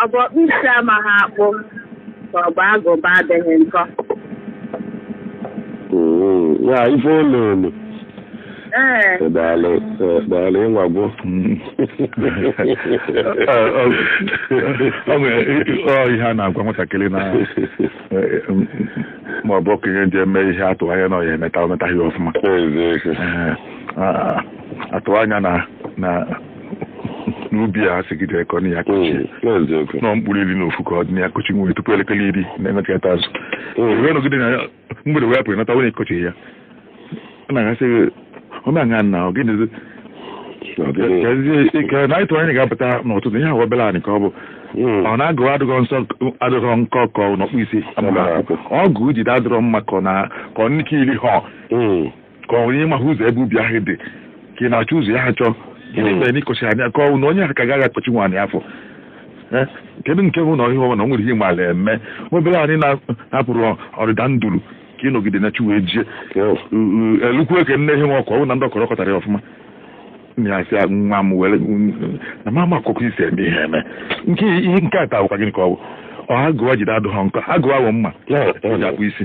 Ọ bụ ọkpụ isi amaghị akpụ ka ọ bụ agụba adịghị nkọ. Mm, ya ife ụlọ elu Ee, daalụ eh, daalụ ị nwagwo ọ nwere ọ ihe a na-agwa nwatakịrị na ma ọ bụ okenye ji eme ihe a tụ anya na ọ ya emeta o metaghị ọfụma Eziokwu. Ee, a- a tụ anya na na n'ubi a sigide ka ọ na ya kọchi hmm, nọ mkpụrụ iri na ofu ka ọ dị na ya kọchi nwere tupu elekere iri na-emechata azụ hmm. wee nọgide na ya mgbede wee pụrụ nata onye kọchi ya ọ na-aga sị ọ na-aṅa nna ọ gịnịzi na ịtụ anyị ga-apụta n'ụtụtụ ihe ahụ obere anyị ka ọ bụ hmm. ọ na agụwa adịghọ nsọ adịghọ nkọ ka ọ na ọkpụ isi ọgụ i jide adịrọ mma ka ọ na ka ọ nnike iri ha ka ọ onye maghị ụzọ ebe ubi ahụ dị ka ị na-achọ ụzọ ya achọ gịnị mere na ị kọchi anya ka ọ na onye ahụ ka gaghị akọchi nwaanyị afọ Eh, kedu nke bụ na ihe ọma na o nwere ihe maala eme obere anyị na- na-apụrụ ọdịda nduru ka ị nọgide na chi wee jie elukwu ka nne ihe nwa ọkụ ọ bụ na ndị ọ kọrọ kọtara ya ọfụma nna ya sị ya, nwa m were na mama akụkọ i si eme ihe eme nke ihe nke a taa bụkwa gịnị ka ọ bụ ọ agụwa i jide adịghọ nkọ agụwa wụ mma o ji akpụ isi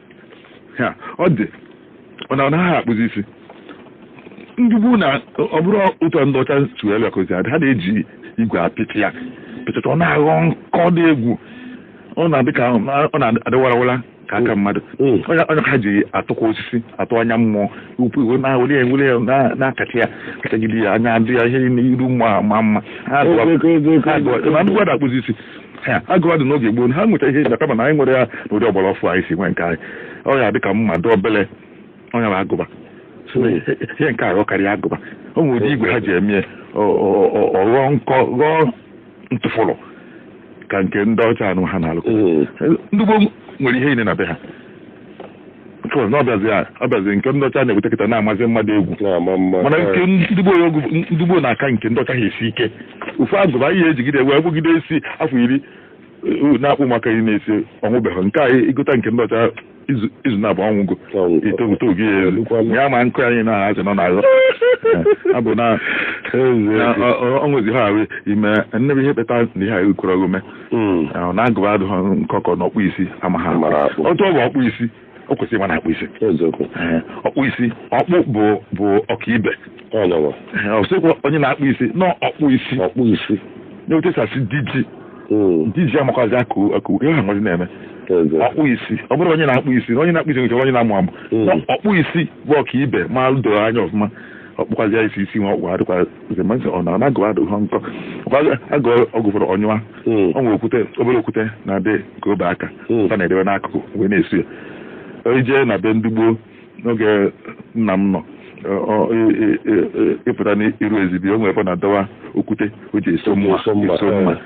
ha ọ dị ọ na ọ naghị akpụzi isi ndị gboo na ọ bụrụ otu a ndị ọcha si wee bịakozi adị ha na-eji igwe apịtị ya pịtụta ọ na-aghọ nkọ dị egwu ọ na-adị ka ọ na-adị warawara ka aka mmadụ Mm. onye onye nka ji atụkwa osisi atụ anya mmụọ ukwu i wee na-ewere ya ewere ya na- na-akacha ya kachagide ya anya adị ya ihe niile iru mma ma mma ha Ego, ego, ego, ego, ego. na agụwa ada akpụzi isi Ha, agụwa dị n'oge gboo ha nwecha ihe a kama na anyị nwere ya n'ụdị ọgbara ọfụụ anyị si nwee nke anyị ọ ya dị ka mma dị obele ọ ya bụ agụba So, ihe ihe nke a ghọkarịa agụba o nwere ụdị igwe ha ji eme ya, ọ- ọ- ọ- ọ ghọọ nkọ ghọọ ntụfụrụ ka nke ndị ọcha anụ ha na-alụ Mm. ndị gboo nwere ihe niile na be ha because na ọ bịazi a- ọ bịazi nke ndị ọcha na-ebute kịta na-amazi mma dị egwu na-ama mma mana nke ndị gboo igwe ndị gboo na-aka nke ndị ọcha ha esi ike ofu agụba anyị ejigide wee kpụgide isi afọ iri eh, na-akpụ maka iri na isii ọ nwụbeghị nke a i gota nke ndị ọcha izu izu naabọ ọ nwụgo Ọ nwụgo. i togote oge ya elu O lukwanụ. ya ma nkụ anyị na azị nọ n'azụ ya bụ na na ọ- ọ- ọ nwezi ha ahụ ime nnebe ihe kpata na ihe a ekwerọ omume Mm. Ọ bụ na agụba adịghị nkọ ka ọ na ọkpụ isi amaghị akpụ. Mara akpụ. otu ọ bụ ọkpụ isi o kwesịrị ịma na-akpụ isi eziokwu Ee, ọkpụ isi ọkpụ bụ bụ ọkaibe ọ ya nwa Ee, ọ sịkwa onye na-akpụ isi na ọkpụ isi ọkpụ isi na etu e si asị diji Mm. diji amakwazi akọ akọ ihe ha nwazi na-eme eziokwu ọkpụ isi ọ bụrọ onye na-akpụ isi na onye na-akpụ isi nwere ike onye na-amụ amụ Mm. Na ọkpụ isi bụ ọkaibe ma doro anya ọfụma ọ kpụkwazị ya isi isi nwa ọ kpụ adịkwa nke mgbe nsị ọ na agụba adịghị nkọ Ọkwa agụ ọgụ fọrọ ọnyụwa Mm. ọ nwere okwute obere okwute na-adị ka ọba aka Mm. a na-edebe n'akụkụ wee na-esu ya i jee na be ndị gboo n'oge nna m nọ ọ- ọ- ị- ị- ị- ị- ị pụta n'iru ezibi o nwere ebe ọ na-adọwa okwute o ji eso mma Eso mma, eso mma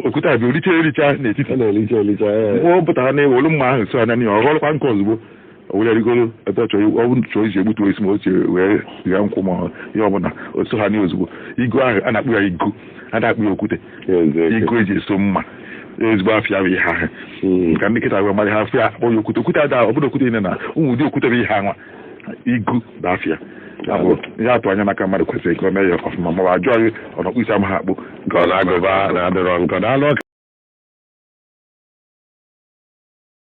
okwute a bụ richa ericha n'etiti a na-elicha elicha ee. mgbe ọ pụtara na o welu mma ahụ so anya n'ihe ọ ghọrọkwa nkọ ozugbo o were rigoro ebe ọ chọrọ ọ bụrụ chọọ iji egbutu osisi ma o chere wee gha nkwụ ma ihe ọbụla o so ha nye ozugbo igu ahụ a na-akpọ ya igu a na-akpọ ya okwute igu e ji eso mma ezigbo afa ya bụ ihe ahụ hmm. ka ndị nkịtị wee mara ha afa ya akpọ ya okwute okwute ada ọ bụrụ okwute niile na ụmụ ụdị okwute bụ ihe anwa igu bụ afa ya ihe a tụ anya n'aka mmadụ kwesịrị ka ọ mee ya ọfụma ma ọ bụ a jụọ gị ọ na ọkpụ isi amaghị akpụ ka ọ na agụba na adịrọ nkọ daalụ